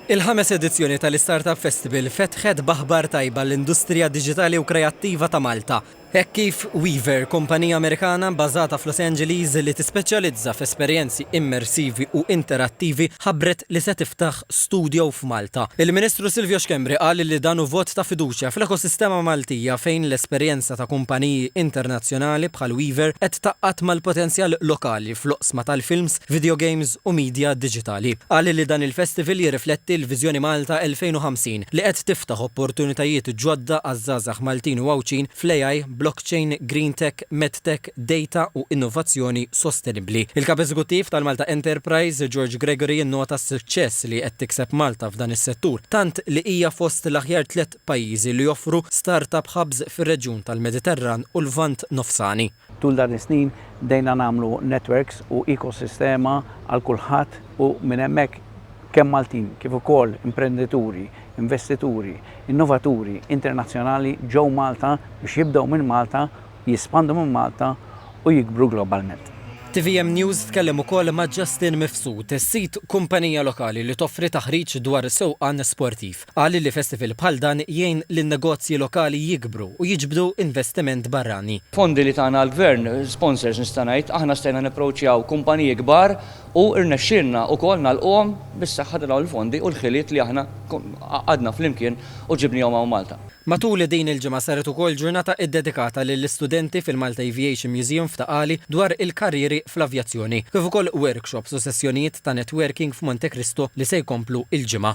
Il-ħames edizzjoni tal-iStartup Festival fetħet b'aħbar tajba għall-industrija diġitali u kreattiva ta' Malta, hekk kif Weaver, kumpanija Amerikana bbażata f'Los Angeles li tispeċjalizza f'esperjenzi immersivi u interattivi, ħabbret li se tiftaħ studio f'Malta. Il-Ministru Silvio Schembri qal li dan hu vot ta' fiduċja fl-ekosistema Maltija fejn l-esperjenza ta' kumpaniji internazzjonali bħal Weaver qed tgħaqqad mal-potenzjal lokali fl-oqsma tal-films, videogames u media diġitali. Qal li dan il-festival jirrifletti l-Viżjoni Malta 2050 li qed tiftaħ opportunitajiet ġodda għaż-żgħażagħ Maltin u Għawdxin fl-AI, blockchain, green tech, medtech, data u innovazzjoni sostenibbli. Il-Kap Eżekuttiv tal-Malta Enterprise, George Gregory innota s-suċċess li qed tikseb Malta f'dan is-settur, tant li hija fost l-aħjar tliet pajjiżi li joffru start-up hubs fir-reġjun tal-Mediterran u l-Lvant Nofsani. Tul dan is-snin bdejna nagħmlu netwerks u ekosistema għal kulħadd u minn hemmhekk kemm Maltin kif ukoll imprendituri, investituri, innovaturi internazzjonali ġew Malta biex jibdew minn Malta, jespandu minn Malta u jikbru globalment. Tvm News tkellem ukoll ma' Justin Mifsud, sid kumpanija lokali li toffri taħriġ dwar sewqan sportiv. Qal li festival bħal dan jgħin lin-negozji lokali jikbru u jiġbdu investiment barrani. Fondi li tana l-Gvern, sponsors nista' ngħid, aħna stajna napproachjaw kumpaniji kbar u rnexxielna wkoll nagħlquhom bis-saħħa ta' dawn il-fondi u l-ħiliet li aħna qagħadna flimkien u ġibniehom hawn Malta. Matul din il-ġimgħa saret ukoll ġurnata iddedikata lill-istudenti fil-Malta Aviation Museum f'Ta' Qali dwar il-karrieri fl-avjazzjoni, kif ukoll workshops u sessjonijiet ta' networking f'Monte Cristo li se jkomplu l-ġimgħa.